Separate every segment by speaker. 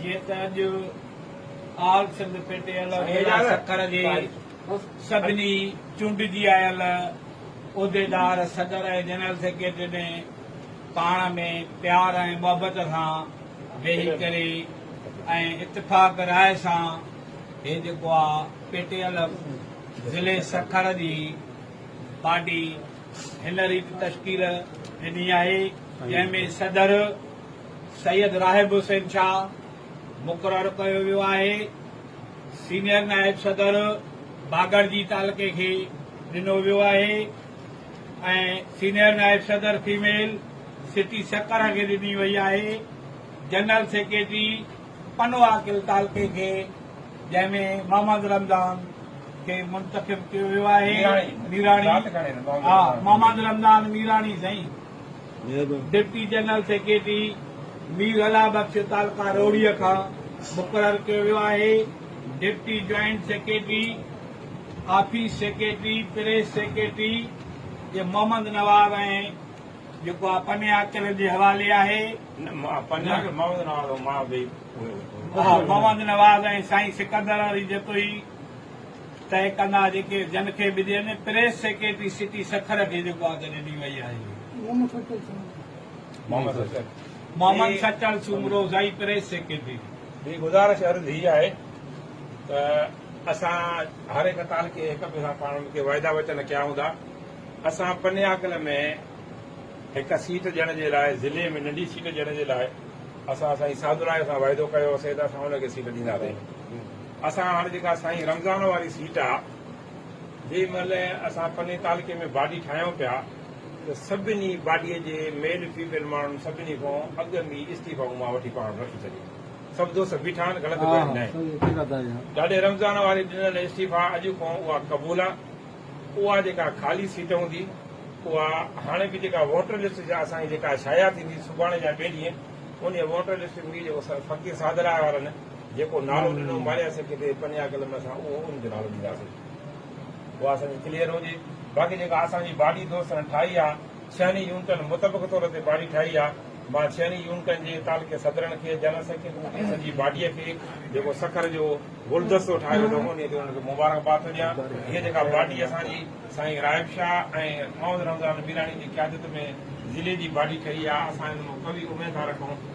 Speaker 1: جيئن ته اڄ آل سنڌ پيٽيل ضلع سکر جي سڀني چونڊجي آيل عهديدار صدر ۽ جنرل سيڪريٽري ۾ پاڻ ۾ پيار ۽ محبت سان ويهي ڪري ۽ اتفاق راء سان هي جيڪو آ پيٽيل ضلعي سکر جي پارٽي هن ريت تشڪيل ڏني آهي جنهن ۾ صدر سيد راحب حسين شاهه مقرر ڪيو ويو آهي، سينيئر نائب صدر باگڙجي تعلقي کي ڏنو ويو آهي ۽ سينيئر نائب صدر فيميل سٽي سکر کي ڏني وئي آهي، جنرل سيڪريٽري پنو عاقل تعلقي کي جنهن ۾ محمد رمضان کي منتخب ڪيو ويو آهي، ميراڻي محمد رمضان ميراڻي سائين. Deputy general secretary Mir Allah Bakhsh تعلقه روهڙي کان مقرر ڪيو ويو آهي. Deputy joint secretary, office secretary, press secretary جي محمد نواز ۽ جيڪو آ پنيا چلن جي حوالي آهي. محمد نواز ۽ سائين سڪندر علي جتوئي. طئي ڪندا جيڪي جن کي به ڏين پريس سيڪريٽري سٽي سکر کي جيڪو آ ته ڏني وئي آهي محمد سچل سومرو زئي پريس سيڪريٽري کي. ٻي گذارش
Speaker 2: عرض هي آهي ته اسان هر هڪ تعلقي هڪ ٻئي سان پاڻ ۾ ڪي وعدا وچن ڪيا هوندا اسان پنياڪل ۾ هڪ سيٽ ڏيڻ جي لاء ضلعي ۾ ننڍي سيٽ ڏيڻ جي لاء اسان سائين سعدالله سان وعدو ڪيو هوسي ته اسان ان کي سيٽ ڏينداسين اسان هاڻ جيڪا سائين رمضان واري سيٽ آ جي مهل اسان پني تعلقي ۾ باڊي ٺاهيون پيا ته سڀني باڊي جي ميل فيميل ماڻهن سڀني کان اڳ ۾ استعيفا مون مان وٺي پاڻ رکي ڇڏي سڀ دوست بيٺا آهن غلط ڪوئي ناهي ڏاڏي رمضان واري ڏنل استعيفا اڄ کان اها قبول آ اها جيڪا خالي سيٽ هوندي اها هاڻي به جيڪا ووٽر لسٽ جا اسان کي جيڪا شايع ٿيندي سڀاڻي يا ٻي ڏينهن ان ووٽر لسٽ ۾ جيڪو فقير سادراء وارن جيڪو نالو ڏنو ماريا سکي تي پنيا قلم اسان اهو ان جو نالو ڏينداسين اهو اسان جي ڪليئر هجي باقي جيڪا اسان جي باڊي دوستن ٺاهي آ ڇهن ئي يونٽن متفق طور تي باڊي ٺاهي آ مان ڇهن ئي يونٽن جي تعلقي صدرن کي جنرل سيڪريٽري سڄي باڊي کي جيڪو سکر جو گلدستو ٺاهيو اٿو انهي تي انهن کي مبارڪ باد ٿو ڏيان هي جيڪا باڊي اسان جي سائين رائب شاهه ۽ محمد رمضان ميراڻي جي قيادت ۾ ضلعي جي باڊي ٺهي آ اسان ان مان قوي اميد ٿا رکون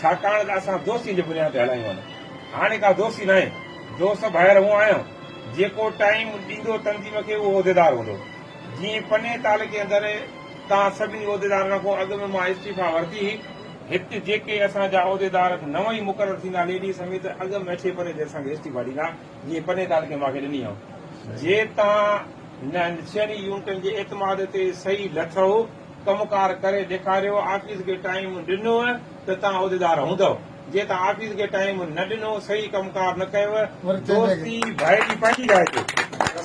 Speaker 2: ڇاڪاڻ ته اسان دوستي جي بنياد تي هلايون آهن. هاڻي ڪا دوستي ناهي. دوست ڀائر هون آهيان، جيڪو ٽائيم ڏيندو تنظيم کي اهو عهديدار هوندو. جيئن پني تعلقي اندر تان سڀني عهديدارن کان اڳ ۾ مان استعيفيٰ ورتي هئي، هت جيڪي اسان جا عهديدار نون ئي مقرر ٿيندا ليڊيز سميت اڳ ۾ اٺين پرين تي اسان کي استعيفيٰ ڏيندا، جيئن پني تعلقي مان کي ڏني هئم. جي تان نه ڇهن ئي يونٽن جي اعتماد تي صحيح لٿئو، ڪم ڪار ڪري ڏيکاريو آفيس کي ٽائيم ڏنوء ته تان عهديدار هوندؤ جي تان آفيس کي ٽائيم نه ڏنو صحيح ڪم ڪار نه ڪيوء دوستي ڀائي جي پنهنجي جاء تي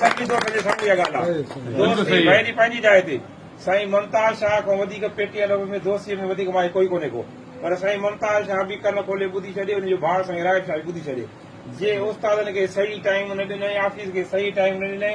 Speaker 2: سچي دوست جي سامهون اها ڳالهه آهي دوستي ڀائي جي پنهنجي جاء تي سائين ممتاز شاهه کان وڌيڪ پي ٽي ارب ۾ دوستي ۾ وڌيڪ ماهر ڪوئي ڪونهي ڪو پر سائين ممتاز شاهه به ڪن کولي ٻڌي ڇڏي ان جو ڀاء سائين راهب شاهه به ٻڌي ڇڏي جي استادن کي صحيح ٽائيم نه ڏنئي آفيس کي صحيح ٽائيم نه ڏنئي